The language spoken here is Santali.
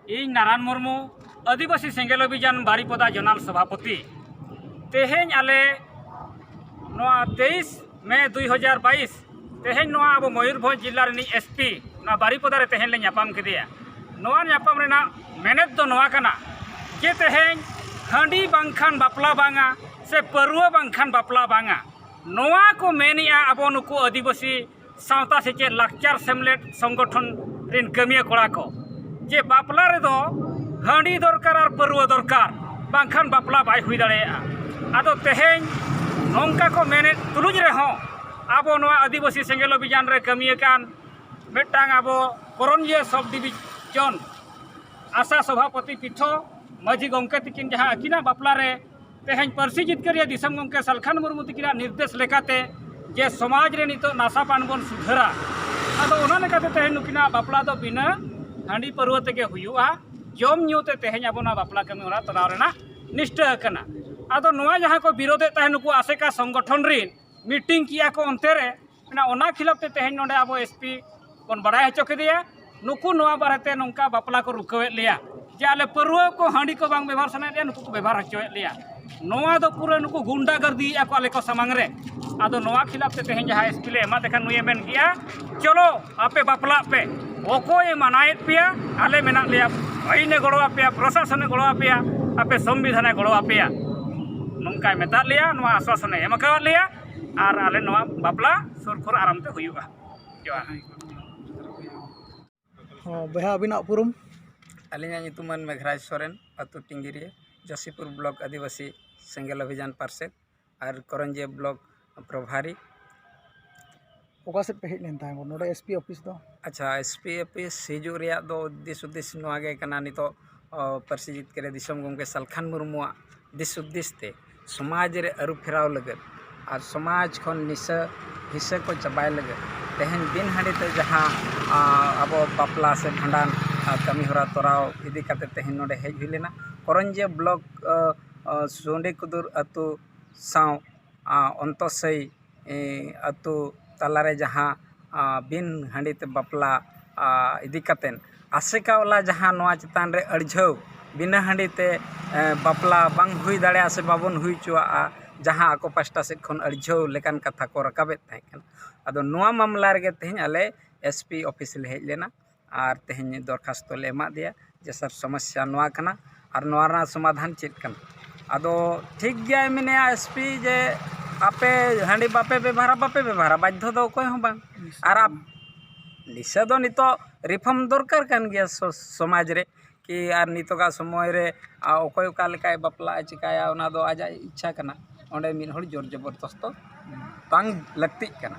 ᱤᱧ ᱱᱟᱨᱟᱱ ᱢᱩᱨᱢᱩ ᱟᱹᱫᱤᱵᱟᱹᱥᱤ ᱥᱮᱸᱜᱮᱞ ᱚᱵᱷᱤᱡᱟᱱ ᱵᱟᱨᱤᱯᱚᱫᱟ ᱡᱚᱱᱟᱞ ᱥᱚᱵᱷᱟᱯᱚᱛᱤ ᱛᱮᱦᱮᱧ ᱟᱞᱮ ᱱᱚᱣᱟ ᱛᱮᱭᱤᱥ ᱢᱮ ᱫᱩᱭ ᱦᱟᱡᱟᱨ ᱵᱟᱭᱤᱥ ᱛᱮᱦᱮᱧ ᱱᱚᱣᱟ ᱟᱵᱚ ᱢᱚᱭᱩᱨᱵᱷᱚᱸᱡᱽ ᱡᱮᱞᱟ ᱨᱤᱱᱤᱡ ᱮᱥ ᱯᱤ ᱱᱚᱣᱟ ᱵᱟᱨᱤᱯᱚᱫᱟ ᱨᱮ ᱛᱮᱦᱮᱧ ᱞᱮ ᱧᱟᱯᱟᱢ ᱠᱮᱫᱮᱭᱟ ᱱᱚᱣᱟ ᱧᱟᱯᱟᱢ ᱨᱮᱱᱟᱜ ᱢᱮᱱᱮᱛ ᱫᱚ ᱱᱚᱣᱟ ᱠᱟᱱᱟ ᱡᱮ ᱛᱮᱦᱮᱧ ᱦᱟᱺᱰᱤ ᱵᱟᱝᱠᱷᱟᱱ ᱵᱟᱯᱞᱟ ᱵᱟᱝᱟ ᱥᱮ ᱯᱟᱹᱨᱣᱟᱹ ᱵᱟᱝᱠᱷᱟᱱ ᱵᱟᱯᱞᱟ ᱵᱟᱝᱟ ᱱᱚᱣᱟ ᱠᱚ ᱢᱮᱱᱮᱜᱼᱟ ᱟᱵᱚ ᱱᱩᱠᱩ ᱟᱹᱫᱤᱵᱟᱹᱥᱤ ᱥᱟᱶᱛᱟ ᱥᱮᱪᱮᱫ ᱞᱟᱠᱪᱟᱨ ᱥᱮᱢᱞᱮᱫ ᱥᱚᱝᱜᱚᱴᱷᱚᱱ ᱨᱮᱱ ᱠᱟᱹᱢᱤᱭᱟᱹ ᱠᱚᱲᱟ ᱠᱚ ᱡᱮ ᱵᱟᱯᱞᱟ ᱨᱮᱫᱚ ᱦᱟᱺᱰᱤ ᱫᱚᱨᱠᱟᱨ ᱟᱨ ᱯᱟᱹᱨᱣᱟᱹ ᱫᱚᱨᱠᱟᱨ ᱵᱟᱝᱠᱷᱟᱱ ᱵᱟᱯᱞᱟ ᱵᱟᱭ ᱦᱩᱭ ᱫᱟᱲᱮᱭᱟᱜᱼᱟ ᱟᱫᱚ ᱛᱮᱦᱮᱧ ᱱᱚᱝᱠᱟ ᱠᱚ ᱢᱮᱱᱮᱫ ᱛᱩᱞᱩᱡ ᱨᱮᱦᱚᱸ ᱟᱵᱚ ᱱᱚᱣᱟ ᱟᱹᱫᱤᱵᱟᱹᱥᱤ ᱥᱮᱸᱜᱮᱞ ᱚᱵᱷᱤᱡᱟᱱ ᱨᱮ ᱠᱟᱹᱢᱤ ᱟᱠᱟᱱ ᱢᱤᱫᱴᱟᱝ ᱟᱵᱚ ᱠᱚᱨᱚᱱᱤᱭᱟᱹ ᱥᱚᱵᱽ ᱰᱤᱵᱷᱤᱡᱚᱱ ᱟᱥᱟ ᱥᱚᱵᱷᱟᱯᱚᱛᱤ ᱯᱤᱴᱷᱟᱹ ᱢᱟᱹᱡᱷᱤ ᱜᱚᱢᱠᱮ ᱛᱟᱹᱠᱤᱱ ᱡᱟᱦᱟᱸ ᱟᱹᱠᱤᱱᱟᱜ ᱵᱟᱯᱞᱟ ᱨᱮ ᱛᱮᱦᱮᱧ ᱯᱟᱹᱨᱥᱤ ᱡᱤᱛᱠᱟᱹᱨᱤᱭᱟᱹ ᱫᱤᱥᱚᱢ ᱜᱚᱢᱠᱮ ᱥᱟᱞᱠᱷᱟᱱ ᱢᱩᱨᱢᱩ ᱛᱤᱠᱤᱱᱟᱜ ᱱᱤᱨᱫᱮᱥ ᱞᱮᱠᱟᱛᱮ ᱡᱮ ᱥᱚᱢᱟᱡᱽ ᱨᱮ ᱱᱤᱛᱚᱜ ᱱᱟᱥᱟ ᱯᱟᱱ ᱵᱚᱱ ᱥᱩᱫᱷᱟᱹᱨᱟ ᱟᱫᱚ ᱚᱱᱟ ᱞᱮᱠᱟᱛᱮ ᱛᱮᱦᱮᱧ ᱱᱩᱠᱤᱱᱟᱜ ᱵᱟᱯᱞᱟ ᱫᱚ ᱵᱤᱱᱟᱹ ᱦᱟᱺᱰᱤ ᱯᱟᱹᱨᱣᱟᱹ ᱛᱮᱜᱮ ᱦᱩᱭᱩᱜᱼᱟ ᱡᱚᱢ ᱧᱩ ᱛᱮ ᱛᱮᱦᱮᱧ ᱟᱵᱚ ᱱᱚᱣᱟ ᱵᱟᱯᱞᱟ ᱠᱟᱹᱢᱤ ᱦᱚᱨᱟ ᱛᱚᱨᱟᱣ ᱨᱮᱱᱟᱜ ᱱᱤᱥᱴᱟᱹ ᱟᱠᱟᱱᱟ ᱟᱫᱚ ᱱᱚᱣᱟ ᱡᱟᱦᱟᱸ ᱠᱚ ᱵᱤᱨᱳᱫᱮᱫ ᱛᱟᱦᱮᱸᱫ ᱱᱩᱠᱩ ᱟᱥᱮᱠᱟ ᱥᱚᱝᱜᱚᱴᱷᱚᱱ ᱨᱤᱱ ᱢᱤᱴᱤᱝ ᱠᱮᱜᱼᱟ ᱠᱚ ᱚᱱᱛᱮ ᱨᱮ ᱢᱮᱱᱟ ᱚᱱᱟ ᱠᱷᱤᱞᱟᱯ ᱛᱮ ᱛᱮᱦᱮᱧ ᱱᱚᱰᱮ ᱟᱵᱚ ᱮᱥ ᱯᱤ ᱵᱚᱱ ᱵᱟᱲᱟᱭ ᱦᱚᱪᱚ ᱠᱮᱫᱮᱭᱟ ᱱᱩᱠᱩ ᱱᱚᱣᱟ ᱵᱟᱨᱮᱛᱮ ᱱᱚᱝᱠᱟ ᱵᱟᱯᱞᱟ ᱠᱚ ᱨᱩᱠᱷᱟᱹᱣᱮᱫ ᱞᱮᱭᱟ ᱡᱮ ᱟᱞᱮ ᱯᱟᱹᱨᱣᱟᱹ ᱠᱚ ᱦᱟᱺᱰᱤ ᱠᱚ ᱵᱟᱝ ᱵᱮᱵᱷᱟᱨ ᱥᱟᱱᱟᱭᱮᱫ ᱞᱮᱭᱟ ᱱᱩᱠᱩ ᱠᱚ ᱵᱮᱵᱷᱟᱨ ᱦᱚᱪᱚᱭᱮᱫ ᱞᱮᱭᱟ ᱱᱚᱣᱟ ᱫᱚ ᱯᱩᱨᱟᱹ ᱱᱩᱠᱩ ᱜᱩᱱᱰᱟ ᱜᱟᱨᱫᱤᱭᱮᱫᱼᱟ ᱠᱚ ᱟᱞᱮ ᱠᱚ ᱥᱟᱢᱟᱝ ᱨᱮ ᱟᱫᱚ ᱱᱚᱣᱟ ᱠᱷᱤᱞᱟᱯ ᱛᱮ ᱛᱮᱦᱮᱧ ᱡᱟᱦᱟᱸ ᱮᱥ ᱯᱤ ᱞᱮ ᱮᱢᱟᱫᱮ ᱠᱷᱟᱱ ᱱᱩᱭᱮ ᱢᱮᱱ ᱠᱮᱜᱼᱟ ᱪᱚᱞᱚ ᱟᱯᱮ ᱵᱟᱯᱞᱟᱜ ᱯᱮ ᱚᱠᱚᱭᱮ ᱢᱟᱱᱟᱭᱮᱫ ᱯᱮᱭᱟ ᱟᱞᱮ ᱢᱮᱱᱟᱜ ᱞᱮᱭᱟ ᱟᱹᱭᱤᱱᱮ ᱜᱚᱲᱚ ᱟᱯᱮᱭᱟ ᱯᱨᱚᱥᱟᱥᱚᱱᱮ ᱜᱚᱲᱚ ᱟᱯᱮᱭᱟ ᱟᱯᱮ ᱥᱚᱝᱵᱤᱫᱷᱟᱱᱮ ᱜᱚᱲᱚ ᱟᱯᱮᱭᱟ ᱱᱚᱝᱠᱟᱭ ᱢᱮᱛᱟᱫ ᱞᱮᱭᱟ ᱱᱚᱣᱟ ᱟᱥᱥᱟᱥᱚᱱᱮ ᱮᱢ ᱟᱠᱟᱫ ᱞᱮᱭᱟ ᱟᱨ ᱟᱞᱮ ᱱᱚᱣᱟ ᱵᱟᱯᱞᱟ ᱥᱩᱨ ᱠᱚᱨᱮ ᱟᱨᱟᱢ ᱛᱮ ᱦᱩᱭᱩᱜᱼᱟ ᱡᱚᱦᱟᱨ ᱦᱚᱸ ᱵᱚᱭᱦᱟ ᱟᱹᱵᱤᱱᱟᱜ ᱩᱯᱨᱩᱢ ᱟᱹᱞᱤᱧᱟᱜ ᱧᱩᱛᱩᱢ ᱢᱟᱹᱱ ᱢᱮᱜᱷᱨᱟᱡᱽ ᱥᱚᱨᱮᱱ ᱟᱹᱛᱩ ᱴᱤᱝᱜᱤᱨᱤ ᱡᱚᱥᱤᱯᱩᱨ ᱵᱞᱚᱠ ᱟᱹᱫᱤᱵᱟᱹᱥᱤ ᱥᱮᱸᱜᱮᱞ ᱚᱵᱷᱤᱡᱟᱱ ᱯᱟᱨᱥᱮᱫ ᱟᱨ ᱠᱚᱨᱚᱱᱡᱤᱭᱟᱹ ᱵᱞᱚᱠ ᱯᱨᱚᱵᱷᱟᱨᱤ ᱚᱠᱟ ᱥᱮᱫ ᱯᱮ ᱦᱮᱡ ᱞᱮᱱ ᱛᱟᱦᱮᱸ ᱠᱟᱱᱟ ᱱᱚᱰᱮ ᱮᱥ ᱯᱤ ᱚᱯᱷᱤᱥ ᱫᱚ ᱟᱪᱪᱷᱟ ᱮᱥ ᱯᱤ ᱚᱯᱷᱤᱥ ᱦᱤᱡᱩᱜ ᱨᱮᱭᱟᱜ ᱫᱚ ᱫᱤᱥ ᱦᱩᱫᱤᱥ ᱱᱚᱣᱟ ᱜᱮ ᱠᱟᱱᱟ ᱱᱤᱛᱚᱜ ᱯᱟᱹᱨᱥᱤ ᱡᱤᱛᱠᱟᱹᱨ ᱫᱤᱥᱚᱢ ᱜᱚᱢᱠᱮ ᱥᱟᱞᱠᱷᱟᱱ ᱢᱩᱨᱢᱩᱣᱟᱜ ᱫᱤᱥ ᱦᱩᱫᱤᱥ ᱛᱮ ᱥᱚᱢᱟᱡᱽ ᱨᱮ ᱟᱹᱨᱩ ᱯᱷᱮᱨᱟᱣ ᱞᱟᱹᱜᱤᱫ ᱟᱨ ᱥᱚᱢᱟᱡᱽ ᱠᱷᱚᱱ ᱱᱤᱥᱟᱹ ᱦᱤᱥᱟᱹ ᱠᱚ ᱪᱟᱵᱟᱭ ᱞᱟᱹᱜᱤᱫ ᱛᱮᱦᱮᱧ ᱵᱤᱱ ᱦᱟᱺᱰᱤ ᱛᱮ ᱡᱟᱦᱟᱸ ᱟᱵᱚ ᱵᱟᱯᱞᱟ ᱥᱮ ᱵᱷᱟᱸᱰᱟᱱ ᱟᱨ ᱠᱟᱹᱢᱤ ᱦᱚᱨᱟ ᱛᱚᱨᱟᱣ ᱤᱫᱤ ᱠᱟᱛᱮᱫ ᱛᱮᱦᱮᱧ ᱱᱚᱰᱮ ᱦᱮᱡ ᱦᱩᱭ ᱞᱮᱱᱟ ᱠᱚᱨᱚᱧᱡᱤᱭᱟᱹ ᱵᱞᱚᱠ ᱥᱩᱰᱤ ᱠᱩᱫᱩᱨ ᱟᱹᱛᱩ ᱥᱟᱶ ᱚᱱᱛᱚᱥᱟᱹᱭᱤ ᱟᱹᱛᱩ ᱛᱟᱞᱟ ᱨᱮ ᱡᱟᱦᱟᱸ ᱵᱤᱱ ᱦᱟᱺᱰᱤ ᱛᱮ ᱵᱟᱯᱞᱟ ᱤᱫᱤ ᱠᱟᱛᱮᱫ ᱟᱥᱮᱠᱟ ᱵᱟᱞᱟ ᱡᱟᱦᱟᱸ ᱱᱚᱣᱟ ᱪᱮᱛᱟᱱ ᱨᱮ ᱟᱹᱲᱡᱷᱟᱹᱣ ᱵᱤᱱᱟᱹ ᱦᱟᱺᱰᱤ ᱛᱮ ᱵᱟᱯᱞᱟ ᱵᱟᱝ ᱦᱩᱭ ᱫᱟᱲᱮᱭᱟᱜᱼᱟ ᱥᱮ ᱵᱟᱵᱚᱱ ᱦᱩᱭ ᱦᱚᱪᱚᱣᱟᱜᱼᱟ ᱡᱟᱦᱟᱸ ᱟᱠᱚ ᱯᱟᱥᱴᱟ ᱥᱮᱫ ᱠᱷᱚᱱ ᱟᱹᱲᱡᱷᱟᱹᱣ ᱞᱮᱠᱟᱱ ᱠᱟᱛᱷᱟ ᱠᱚ ᱨᱟᱠᱟᱵᱮᱫ ᱛᱟᱦᱮᱸ ᱠᱟᱱᱟ ᱟᱫᱚ ᱱᱚᱣᱟ ᱢᱟᱢᱞᱟ ᱨᱮᱜᱮ ᱛᱮᱦᱮᱧ ᱟᱞᱮ ᱮᱥ ᱯᱤ ᱚᱯᱷᱤᱥ ᱞᱮ ᱦᱮᱡ ᱞᱮᱱᱟ ᱟᱨ ᱛᱮᱦᱮᱧ ᱫᱚᱨᱠᱷᱟᱥᱛᱚ ᱞᱮ ᱮᱢᱟᱜ ᱫᱮᱭᱟ ᱡᱮ ᱥᱟᱨ ᱥᱚᱢᱚᱥᱥᱟ ᱱᱚᱣᱟ ᱠᱟᱱᱟ ᱟᱨ ᱱᱚᱣᱟ ᱨᱮᱱᱟᱜ ᱥᱚᱢᱟᱫᱷᱟᱱ ᱪᱮᱫ ᱠᱟᱱᱟ ᱟᱫᱚ ᱴᱷᱤᱠ ᱜᱮᱭᱟᱭ ᱢᱮᱱᱮᱫᱼᱟᱭ ᱮᱥ ᱯᱤ ᱡᱮ ᱟᱯᱮ ᱦᱟᱺᱰᱤ ᱵᱟᱯᱮ ᱵᱮᱵᱷᱟᱨᱟ ᱵᱟᱯᱮ ᱵᱮᱵᱷᱟᱨᱟ ᱵᱟᱫᱽᱫᱷᱚ ᱫᱚ ᱚᱠᱚᱭ ᱦᱚᱸ ᱵᱟᱝ ᱟᱨ ᱱᱤᱥᱟᱹ ᱫᱚ ᱱᱤᱛᱚᱜ ᱨᱤᱯᱷᱚᱨᱢ ᱫᱚᱨᱠᱟᱨ ᱠᱟᱱ ᱜᱮᱭᱟ ᱥᱚᱢᱟᱡᱽ ᱨᱮ ᱠᱤ ᱟᱨ ᱱᱤᱛᱚᱜᱟᱜ ᱥᱚᱢᱚᱭ ᱨᱮ ᱚᱠᱚᱭ ᱚᱠᱟ ᱞᱮᱠᱟᱭ ᱵᱟᱯᱞᱟᱜᱼᱟ ᱪᱤᱠᱟᱹᱭᱟ ᱚᱱᱟ ᱫᱚ ᱟᱡᱟᱜ ᱤᱪᱪᱷᱟ ᱠᱟᱱᱟ ᱚᱸᱰᱮ ᱢᱤᱫ ᱦᱚᱲ ᱡᱳᱨ ᱡᱚᱵᱚᱨᱫᱚᱥᱛᱚ ᱵᱟᱝ ᱞᱟᱹᱠᱛᱤᱜ ᱠᱟᱱᱟ